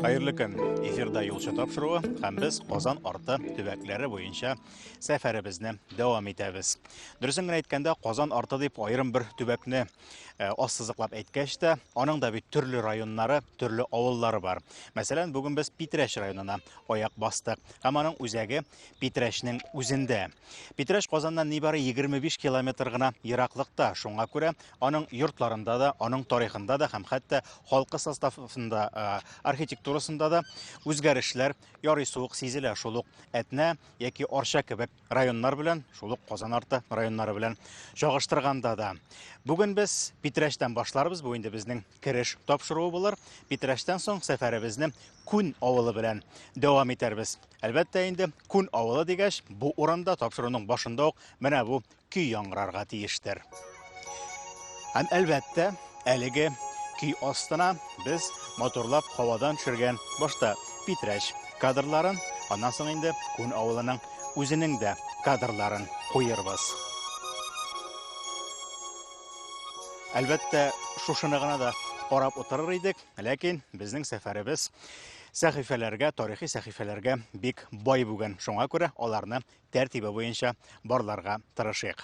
Хәерле көн. Эфирда юлчы тапшыруы һәм без Казан арты төбәкләре буенча сәфәребезне дәвам итәбез. Дөресен генә әйткәндә, Казан арты дип аерым бер төбәкне э, ассызыклап әйткәч тә, аның да бит төрле районнары, төрле авыллары бар. Мәсәлән, бүген без Питрәш районына аяк бастык. Һәм аның үзәге Питрәшнең үзендә. Питрәш Казаннан нибары 25 километр гына ераклыкта. Шуңа күрә аның йортларында да, аның тарихында да һәм хәтта халкы составында, э, архитектурасында да үзгәрешләр ярый суык сизелә. Шул ук Әтнә яки Арча кебек районнар белән, шул ук Казан арты районнары белән чагыштырганда да. Бүген без Питрәчтән башларбыз, бу инде безнең кереш тапшыруы булыр. Питрәчтән соң сәфәребезне Күн авылы белән дәвам итәрбез. Әлбәттә инде Күн авылы дигәч, бу урында тапшыруның башында ук менә бу көй яңгырарга тиештер. Һәм әлбәттә, әлеге көй астына без моторлап һавадан төшергән башта Питрәч кадрларын, аннан соң инде Күн авылының үзенең дә кадрларын куербыз. Әлбәттә, шушыны гына да карап утырыр идек, ләкин безнең сәфәребез сәхифәләргә, тарихи сәхифәләргә бик бай бүген. Шуңа күрә аларны тәртибе буенча барларга тырышыйк.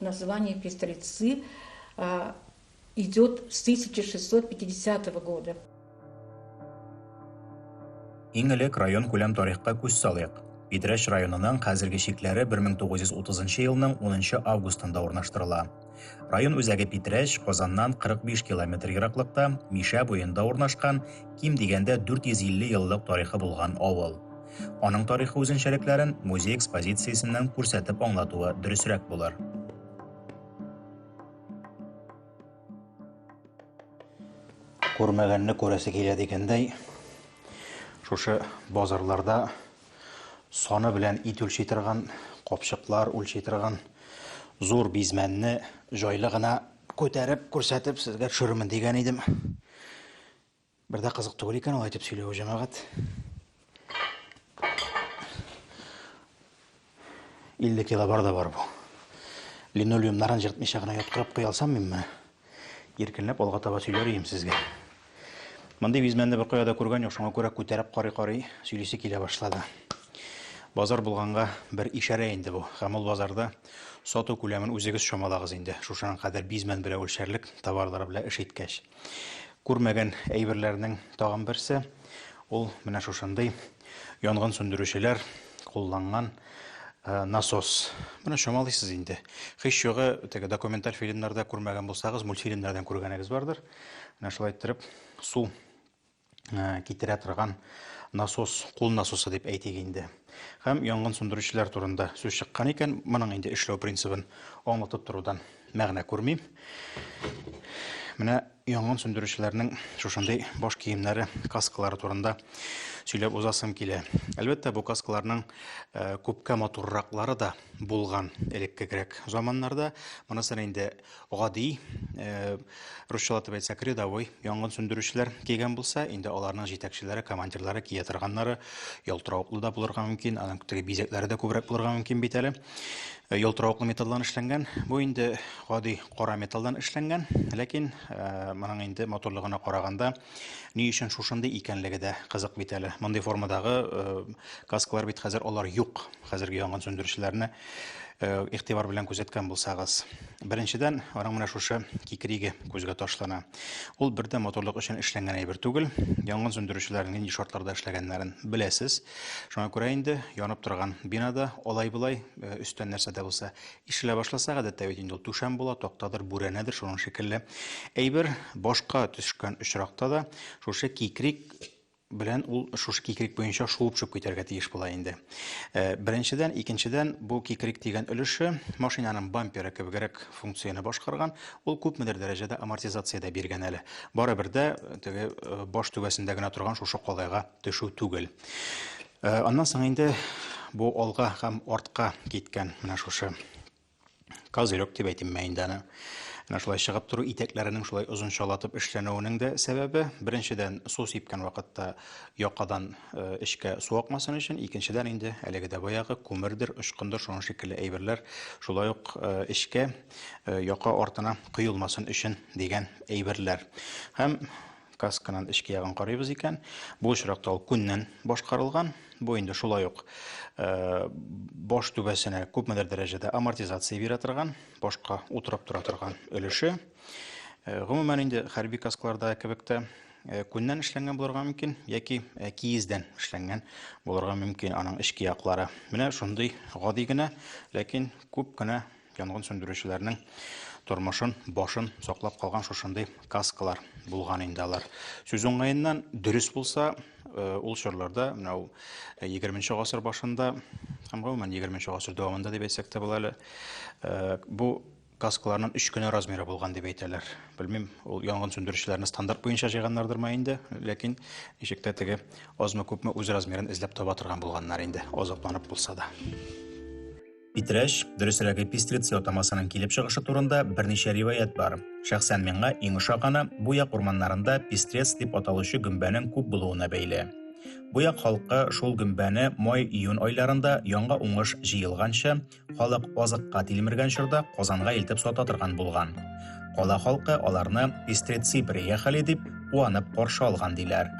Название пестрецы идет с 1650 года. Иң элек район күләм тарихка күз салыйк. Питрәч районының хәзерге чикләре 1930 елның 10 августында урнаштырыла. Район үзәге Питрәч, Казаннан 45 километр ераклыкта, Мишә буенда урнашкан, ким дигәндә 450 еллык тарихы булган авыл. Аның тарихы үзенчәлекләрен музей экспозициясеннән күрсәтеп аңлатуы дөресрәк булыр. Күрмәгәнне күрәсе килә дигәндәй, шушы базарларда саны белән ит үлчи торган, капчыклар үлчи торган зур бизмәнне җайлы гына күтәреп күрсәтеп сезгә төшерермен дигән идем. Бер дә кызык түгел икән алай итеп сөйләве, җәмәгать. 50 кило бар да бар бу. Линолеумнарын җыртмыйча гына яткырып куя алсам мин моны, иркенләп алга таба сөйләр идем сезгә. Мондый визмәнне бер кая да күргән юк, шуңа күрә күтәреп карый-карый сөйлисе килә башлады. Базар булганга бер ишарә инде бу. Һәм ул базарда сату күләмен үзегез чамалагыз инде. Шушаның кадәр бизмән белән үлчәрлек товарлары белән эш иткәч. Күрмәгән әйберләрнең тагын берсе ул менә шушындый янгын сүндерүчеләр кулланган Э, насос. Менә чамалыйсыз инде. Хыш югы теге документаль фильмнарда күрмәгән булсагыз, мультфильмнардан күргәнегез бардыр. Менә шулай иттереп су Э, китерә торган насос кул насосы дип әйтик инде һәм янгын сүндерүчеләр турында сүз чыккан икән моның инде эшләү принцибын аңлатып торудан мәгънә күрмим менә янгын сүндерүчеләрнең шушындый баш киемнәре каскалары турында сөйләп узасым килә әлбәттә бу каскаларның э, күпкә матурраклары да булган элеккегрәк заманнарда монысы инде гади э, русчалап дип әйтсәк рядовой янгын сүндерүчеләр кигән булса инде аларның җитәкчеләре командирлары кия торганнары ялтыравыклы да булырга мөмкин аның теге бизәкләре дә күбрәк булырга мөмкин бит әле э, ялтыравыклы металлдан эшләнгән бу инде гади кара металлдан эшләнгән ләкин э, моның инде моторлыгына караганда Ни өчен шушындый икәнлеге дә кызык бит әле. Мондый формадагы каскалар бит хәзер алар юк. Хәзерге янгын сүндерүчеләрне игътибар белән күзәткән булсагыз. Беренчедән, аның менә шушы кикриге күзгә ташлана. Ул бердә моторлык өчен эшләнгән әйбер түгел. Янгын сүндерүчеләрнең нинди шартларда эшләгәннәрен беләсез. Шуңа күрә инде янып торган бинада алай-болай өстән нәрсә дә булса Ишелә башласа, гадәттә бит инде ул түшәм була, тактадыр, бүрәнәдер, шуның шикелле әйбер. Башка төшкән очракта да шушы кикрик белән ул шушы кикрик буенча шуып чүп китәргә тиеш була инде. Э, беренчедән, икенчедән, бу кикрик дигән өлеше машинаның бамперы кебегрәк функцияне башкарган, ул күпмедер дәрәҗәдә амортизация дә биргән әле. Барыбер дә э, теге э, баш түбәсендә генә торган шушы калайга төшү түгел. Э, аннан соң инде бу алга һәм артка киткән менә шушы козырек дип әйтим мә инде аны. Менә шулай чыгып тору итәкләренең шулай озынчалатып эшләнүенең дә сәбәбе, беренчедән, су сипкән вакытта якадан э, эчкә су акмасын өчен, икенчедән инде әлеге дә баягы күмердер, очкындыр, шуның шикелле әйберләр шулай ук э, эчкә, яка артына коелмасын өчен дигән әйберләр. Һәм касканын эчке ягын карыйбыз икән, бу очракта ул күннән башкарылган. Бу инде шулай ук э, баш түбәсенә күпмедер дәрәҗәдә амортизация бирә торган, башка утырып тора торган өлеше. Э, гомумән инде хәрби каскларда кебек тә э, күннән эшләнгән булырга мөмкин яки киездән эшләнгән булырга мөмкин аның эчке яклары. Менә шундый гади генә, ләкин күп кенә Янгын сүндерүчеләрнең тормышын, башын саклап калган шушындый каскалар булган инде алар. Сүз уңаеннан, дөрес булса, э, ул чорларда, менә ул 20 э, гасыр башында һәм гомумән 20 гасыр дәвамында дип әйтсәк тә була әле, э, бу каскаларның өч кенә размеры булган дип әйтәләр. Белмим, ул янгын сүндерүчеләрне стандарт буенча җыйганнардырмы инде, ләкин ничек тә теге азмы күпме үз размерын эзләп таба торган булганнар инде, азапланып булса да. Питрәч, дөресрәге пестриц ятамасының килеп чыгышы турында берничә риваять бар. Шәхсән миңа иң ошаганы бу як урманнарында пестрец дип аталучы гөмбәнең күп булуына бәйле. Бу як халкы шул гөмбәне май-июнь айларында яңа уңыш җыелганчы, халык азыкка тилмергән чорда Казанга илтеп сата торган булган. Кала халкы аларны пестрецы приехали дип куанып каршы алган диләр.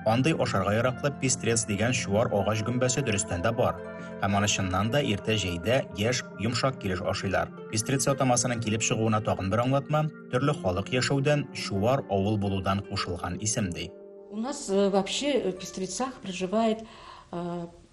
Андый ашарга яраклы пестрец дигән чуар агач гөмбәсе дөрестән дә бар. Һәм аны чыннан да иртә җәйдә яшь, йомшак килеш ашыйлар. Пестрец атамасының килеп чыгуына тагын бер аңлатма, төрле халык яшәүдән, чуар авыл булудан кушылган исем ди. У нас э, вообще э, в Пестрецах проживает э,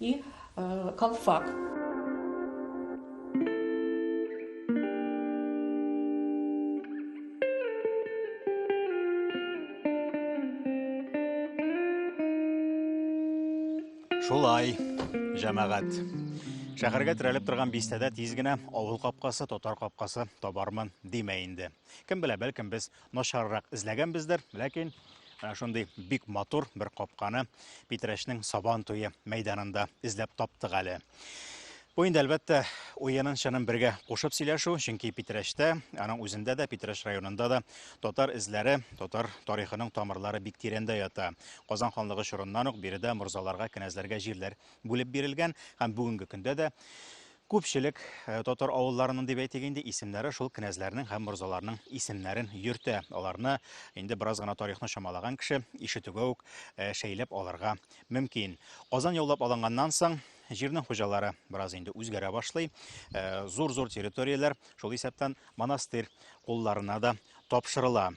и калфак. Шулай, җәмәгать. Шәһәргә терәлеп торган бистәдә тиз генә авыл капкасы, татар капкасы табармын димә инде. Кем белә, бәлкем без начаррак эзләгәнбездер, ләкин менә шундый бик матур бер капканы Питрәчнең Сабан туе мәйданында эзләп таптык әле. Бу инде әлбәттә уенын чынын бергә кушып сөйләшү, чөнки Питрәчтә, аның үзендә дә, Питрәч районында да татар эзләре, татар тарихының тамырлары бик тирәндә ята. Казан ханлыгы чорыннан ук биредә морзаларга, кенәзләргә җирләр бүлеп бирелгән һәм бүгенге көндә дә Күпчелек татар авылларының, дип әйтик инде, исемнәре шул кенәзләрнең һәм морзаларның исемнәрен йөртә. Аларны инде бераз гына тарихны чамалаган кеше ишетүгә үк шәйләп алырга мөмкин. Казан яулап алынганнан соң, җирнең хуҗалары бераз инде үзгәрә башлый. Зур-зур территорияләр, шул исәптән монастырь кулларына да тапшырыла.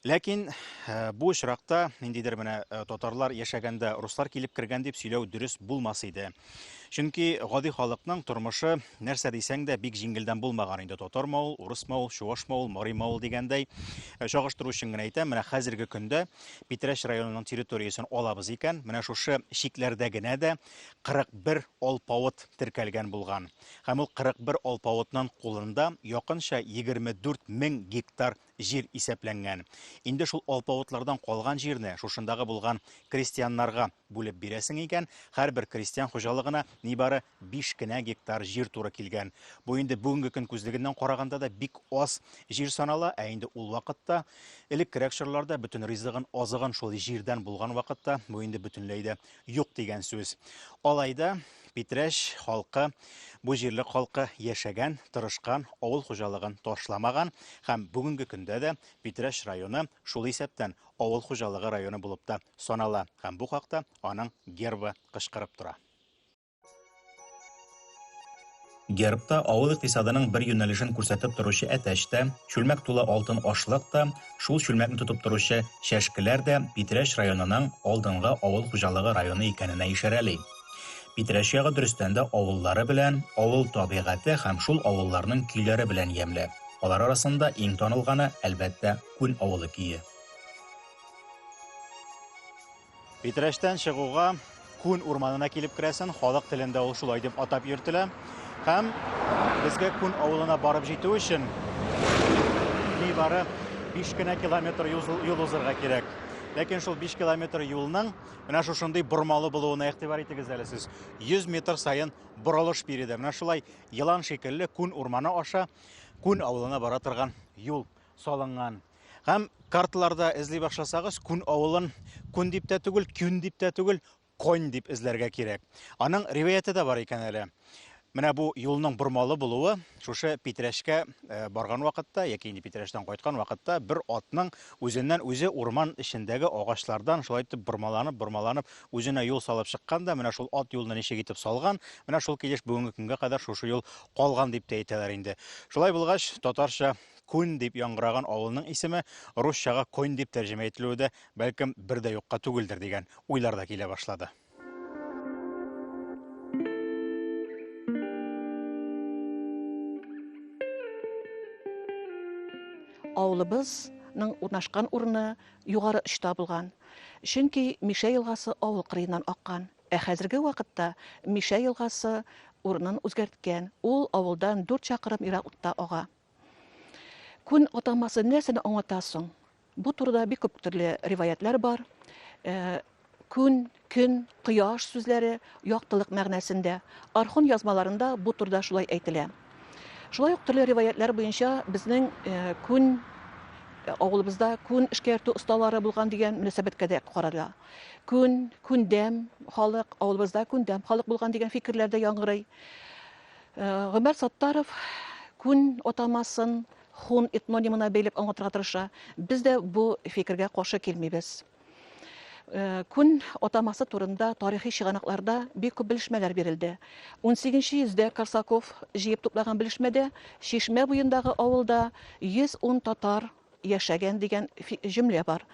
Ләкин э, бу очракта ниндидер менә э, татарлар яшәгәндә руслар килеп кергән дип сөйләү дөрес булмас иде. Чөнки гади халыкның тормышы нәрсә дисәң дә бик җиңелдән булмаган инде. Татар мавыл, урыс мавыл, чуваш мавыл, мари мавыл дигәндәй. Э, чагыштыру өчен генә әйтәм, менә хәзерге көндә Питрәч районының территориясен алабыз икән, менә шушы чикләрдә генә дә 41 алпавыт теркәлгән булган. Һәм ул 41 алпавытның кулында якынча 24 мең гектар җир исәпләнгән. Инде шул алпавытлардан калган җирне шушындагы булган крестьяннарга бүлеп бирәсең икән, һәрбер крестьян хуҗалыгына нибары биш кенә гектар җир туры килгән. Бу инде бүгенге көн күзлегеннән караганда да бик аз җир санала, ә инде ул вакытта, элеккерәк чорларда, бөтен ризыгын, азыгын шул җирдән булган вакытта, бу инде бөтенләй дә юк дигән сүз. Алай да Питрәч халкы, бу җирлек халкы яшәгән, тырышкан, авыл хуҗалыгын ташламаган һәм бүгенге көндә дә Питрәч районы шул исәптән авыл хуҗалыгы районы булып та санала һәм бу хакта аның гербы кычкырып тора. Гербта авыл икътисадының бер юнәлешен күрсәтеп торучы әтәч тә, чүлмәк тулы алтын ашлык та, шул чүлмәкне тотып торучы чәшкеләр дә Питрәч районының алдынгы авыл хуҗалыгы районы икәненә ишарәли. Питрәч ягы дөрестән дә авыллары белән, авыл табигате һәм шул авылларның көйләре белән ямьле. Алар арасында иң танылганы, әлбәттә, Күн авылы көе. Питрәчтән чыгуга Күн урманына килеп керәсен, халык телендә ул шулай дип атап йөртелә. Һәм безгә Күн авылына барып җитү өчен нибары 5 кенә километр юл узырга кирәк. Ләкин шул 5 километр юлның менә шушындый бормалы булуына игътибар итегез әле сез. 100 метр саен борылыш биредә. Менә шулай елан шикелле күн урманы аша күн авылына бара торган юл салынган. Һәм карталарда эзли башласагыз, Күн авылын Күн дип тә түгел, Күн дип тә түгел, Конь дип эзләргә кирәк. Аның риваяте дә бар икән әле. Менә бу юлның бормалы булуы шушы Питрәшкә э, барган вакытта яки инде Питрәштән кайткан вакытта бер атның үзеннән үзе урман эчендәге агачлардан шулай итеп бормаланып, бормаланып үзенә юл салып чыккан да, менә шул ат юлны ничек итеп салган, менә шул килеш бүгенге көнгә кадәр шушы юл калган дип тә әйтәләр инде. Шулай булгач, татарча Күн дип яңгыраган авылның исеме русчага Конь дип тәрҗемә ителүе дә, бәлкем, бер дә юкка түгелдер, дигән уйлар да килә башлады. Авылыбызның урнашкан урыны югары очта булган, чөнки Мишә елгасы авыл кырыеннан аккан. Ә хәзерге вакытта Мишә елгасы урынын үзгәрткән, ул авылдан дүрт чакрым еракта ага. Күн атамасы нәрсәне аңлата соң? Бу турыда бик күп төрле риваятлар бар. Э, күн, көн, кояш сүзләре яктылык мәгънәсендә. Архон язмаларында бу турыда шулай әйтелә. Шулай ук төрле риваятлар буенча безнең э, күн э, авылыбызда күн эшкәртү осталары булган дигән мөнәсәбәткә дә карала. Күн, күндәм халык, авылыбызда күндәм халык булган дигән фикерләр дә яңгырый. Гомәр Саттаров күн атамасын хун этнонимына бәйләп аңлатырга тырыша. Без дә бу фикергә каршы килмибез. Күн атамасы турында тарихи чыганакларда бик күп белешмәләр бирелде. 18 йөздә Корсаков җыеп туплаган белешмәдә Чишмә буендагы авылда 110 татар яшәгән дигән җөмлә бар.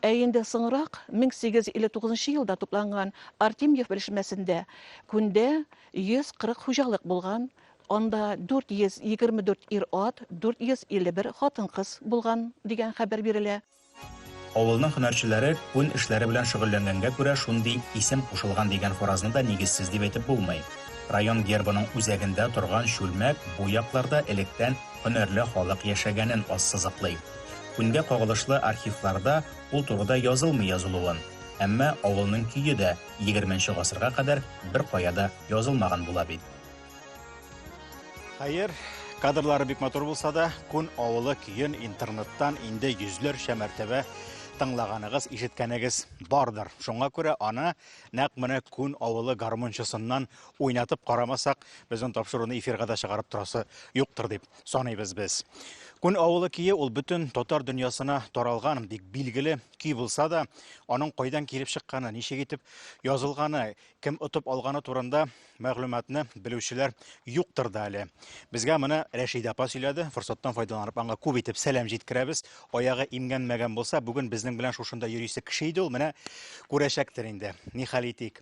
Ә инде соңрак, 1859 елда тупланган Артемьев белешмәсендә күндә 140 хуҗалык булган, анда 424 ир-ат, 451 хатын-кыз булган, дигән хәбәр бирелә. Авылның һөнәрчеләре күн эшләре белән шөгыльләнгәнгә күрә шундый исем кушылган дигән фаразны да нигезсез дип әйтеп булмый. Район гербының үзәгендә торган чүлмәк бу якларда электән һөнәрле халык яшәгәнен ассызыклый. Күнгә кагылышлы архивларда ул турыда язылмый язылуын, әмма авылның көе дә егерменче гасырга кадәр беркая да язылмаган була бит. Хәер, кадрлары бик матур булса да, Күн авылы көен интернеттан инде йөзләрчә мәртәбә тыңлаганыгыз, ишеткәнегез бардыр. Шуңа күрә аны нәкъ менә Күн авылы гармунчысыннан уйнатып карамасак, безнең тапшыруны эфирга да чыгарып торасы юктыр дип саныйбыз без. Күн авылы көе ул бөтен татар дөньясына таралган бик билгеле көй булса да, аның кайдан килеп чыкканы, ничек итеп язылганы, кем отып алганы турында мәгълүматны белүчеләр юктыр да әле. Безгә моны Рәшидә апа сөйләде. Форсаттан файдаланып аңа күп итеп сәлам җиткерәбез. Аягы имгәнмәгән булса, бүген безнең белән шушында йөрисе кеше иде ул, менә күрәчәктер инде. Нихәл итик.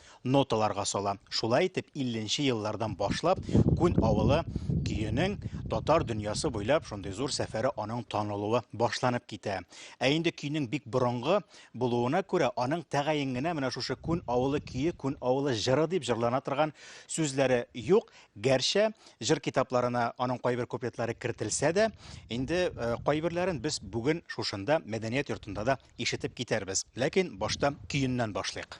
ноталарга сала. Шулай итеп, 50 нче еллардан башлап Күн авылы көенең татар дөньясы буйлап шундый зур сәфәре аның танылуы башланып китә. Ә инде көйнең бик борынгы булуына күрә, аның тәгаен генә менә шушы Күн авылы көе, Күн авылы җыры дип җырлана торган сүзләре юк. Гәрчә җыр китапларына аның кайбер куплетлары кертелсә дә, инде э, кайберләрен без бүген шушында, мәдәният йортында да ишетеп китәрбез. Ләкин башта көеннән башлыйк.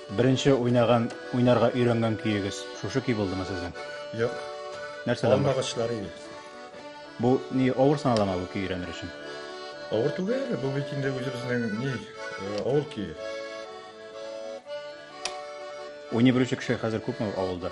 Беренче уйнаган, уйнарга өйрәнгән көегез шушы көй булдымы сезнең? Юк. Нәрсәдән? Алма агачлары иде. Бу ни авыр саналамы бу көй өйрәнер өчен? Авыр түгел, бу бит инде үзебезнең ни э, авыл көе. Уйный белүче кеше хәзер күпме авылда?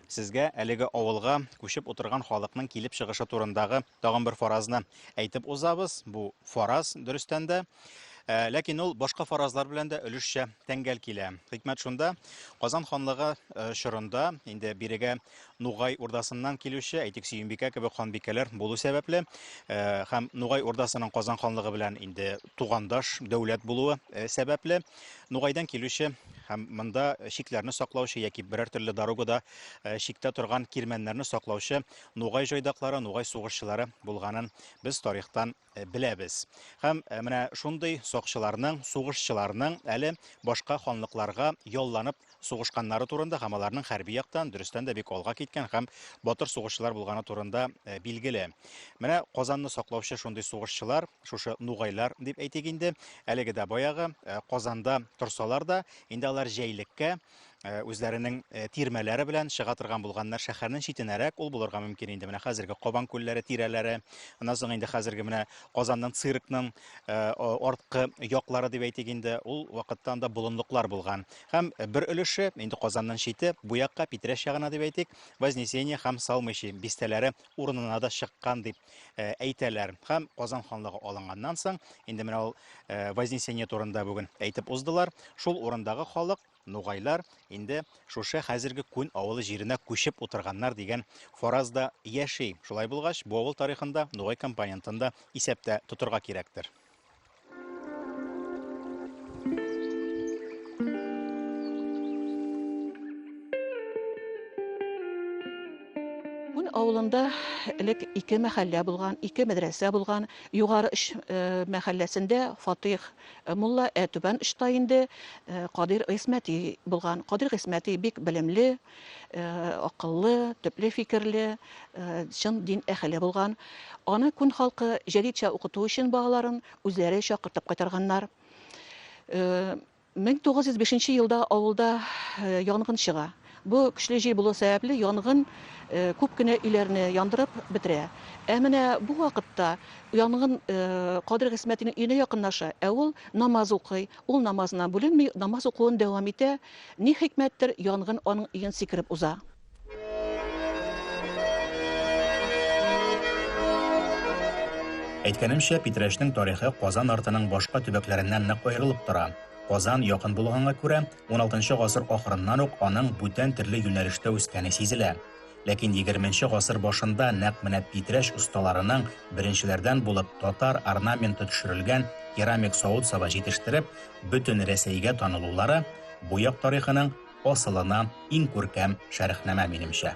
Сезгә әлеге авылга күчеп утырган халыкның килеп чыгышы турындагы тагын бер фаразны әйтеп узабыз. Бу фараз, дөрестән дә, Ә, ләкин ул башка фаразлар белән дә өлешчә тәңгәл килә. Хикмәт шунда, Казан ханлыгы э, чорында инде бирегә Нугай урдасыннан килүче, әйтик, Сөембикә кебек ханбикәләр булу сәбәпле, э, һәм Нугай урдасының Казан ханлыгы белән инде тугандаш дәүләт булуы э, сәбәпле, Нугайдан килүче һәм монда чикләрне саклаучы яки берәр төрле дорогада э, чиктә торган кирмәннәрне саклаучы нугай җайдаклары, нугай сугышчылары булганын без тарихтан э, беләбез. Һәм э, менә шундый сакчыларның, сугышчыларның әле башка ханлыкларга ялланып сугышканнары турында һәм аларның хәрби яктан дөрестән дә бик алга киткән һәм батыр сугышчылар булганы турында э, билгеле. Менә Казанны саклаучы шундый сугышчылар, шушы нугайлар дип әйтик инде, әлеге дә баягы э, Казанда торсалар да, инде алар җәйлеккә э, үзләренең тирмәләре белән чыга торган булганнар шәһәрнең читенәрәк ул булырга мөмкин инде менә хәзерге кабан күлләре тирәләре аннан соң инде хәзерге менә казанның циркның Э, арткы яклары дип әйтик инде ул вакытта анда болынлыклар булган һәм бер өлеше инде казаннан чите бу якка питрәш ягына дип әйтик вознесение һәм салмыйчи бистәләре урынына да чыккан дип э, әйтәләр һәм казан ханлыгы алынганнан соң инде менә ул э, вознесение турында бүген әйтеп уздылар шул урындагы халык Нугайлар инде шушы хәзерге Күн авылы җиренә күчеп утырганнар дигән фараз да яши. Шулай булгач, бу авыл тарихын да, нугай компонентын да исәптә тотырга кирәктер. авылында элек ике мәхәллә булган, ике мәдрәсә булган. Югары Үч мәхәлләсендә Фатих Э, мулла ә түбән очта инде э, Кадир Гыйсмәти булган. Кадир Гыйсмәти бик белемле, э, акыллы, төпле фикерле, чын дин әхеле булган. Аны күн халкы җәдидчә укыту өчен балаларын үзләре чакыртып кайтарганнар. 1905 елда авылда янгын чыга. Бу көчле җил булу сәбәпле, янгын күп кенә өйләрне яндырып бетерә. Ә менә бу вакытта янгын Кадер Гыйсмәтинең өенә якынлаша, ә ул намаз укый. Ул намазыннан бүленми, намаз укуын дәвам итә. Ни хикмәттер, янгын аның өен сикереп уза. Әйткәнемчә, Питрәчнең тарихы Казан артының башка төбәкләреннән нык аерылып тора. Казан якын булганга күрә, Уналтынчы гасыр ахырыннан ук аның бүтән төрле юнәлештә үскәне сизелә. Ләкин егерменче гасыр башында нәкъ менә Питрәч осталарының беренчеләрдән булып татар орнаменты төшерелгән керамик савыт-саба җитештереп, бөтен Рәсәйгә танылулары, бу як тарихының асылына иң күркәм шәрехнамә, минемчә.